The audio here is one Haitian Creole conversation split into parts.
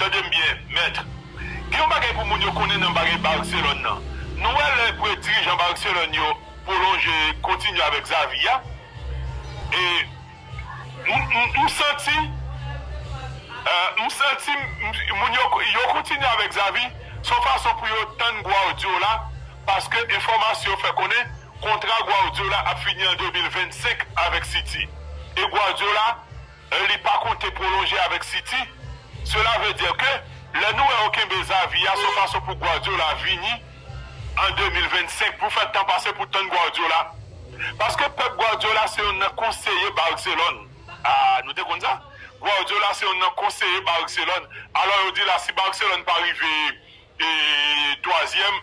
Tande m byen, mèt. Gen yon bagay pou moun yo konnen nan bagay Barcelone nan. Nou wè lè pou yo dirijan Barcelone yo pwolonje, kontinye avèk Xavi a, e m santi, m santi moun yo, yo kontinye avèk Xavi, se yon fason pou yo tann Guardiola, paske enfòmasyon fè konnen kontra Guardiola ap fini an 2025 avèk City. E Guardiola. e li pa konte pwolonje avèk City, sela vle dire ke lè nou wè yo kenbe Xavi a son fason pou Guardiola vini an 2025 pou fè tan pase pou tann Guardiola paske Pep Guardiola se yonn nan konseye Barcelone ah nou te konn sa? Guardiola se yonn nan konseye Barcelone alò yo di la si Barcelone pa rive twazyèm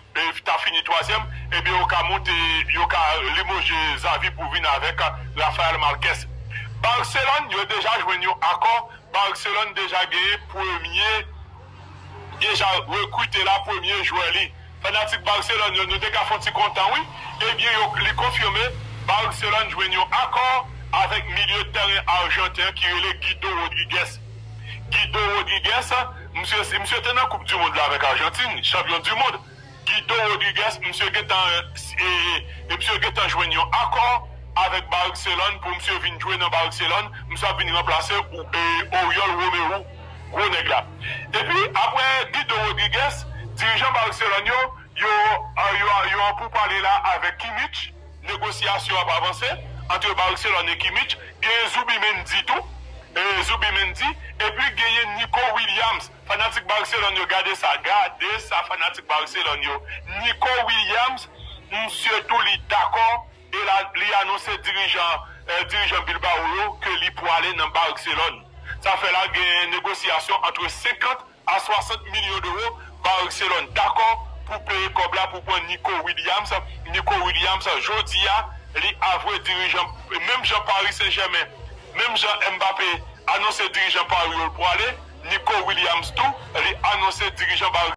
ta fini twazyèm ebyen yo ka moute yo ka limoje Xavi pou vin avèk Rafael Marquez. Barcelone yo deja jwenn yon akò, Barcelone deja genyen premye deja rekrite la premye jwè li. Fanatik Barcelone yo nou te ka fon ti kontan wi ebyen yo li konfime Barcelone jwenn yon akò avèk milye tèren arjanten an ki rele Guido Rodriguez. Guido Rodriguez, misye te nan koup du mond la avèk Argentine, chanpyon du mond. Guido Rodriguez, misye gentan e misye gentan jwenn yon akò avèk Barcelone pou misye vin jwe nan Barcelone, misye ap vin ranplase Oriol Romeu, gwo nèg la. Epi aprè Guido Rodriguez, dirijan Barcelone yo, yo an pou pale la avèk Kimmich. Negosyasyon ap avanse antre Barcelone e Kimmich, genyen Zubimendi tou, Zubimendi, epi genyen Nico Williams, fanatik Barcelone yo gade sa, gade sa fanatik Barcelone yo, Nico Williams, misye tou li dakò e li anonse dirijan, dirijan Bilbao yo ke li pwale nan Barcelone. Sa fè la genyen negosyasyon antre 50 a 60 milyon dewo, Barcelone dakò pou peye kòb la pou pran Nico Williams, Nico Williams jodi a li avwe dirijan menm jan Paris Saint Germain, menm jan Mbappé anonse dirijan Paris yo l pwale, Nico Williams tou li anonse dirijan.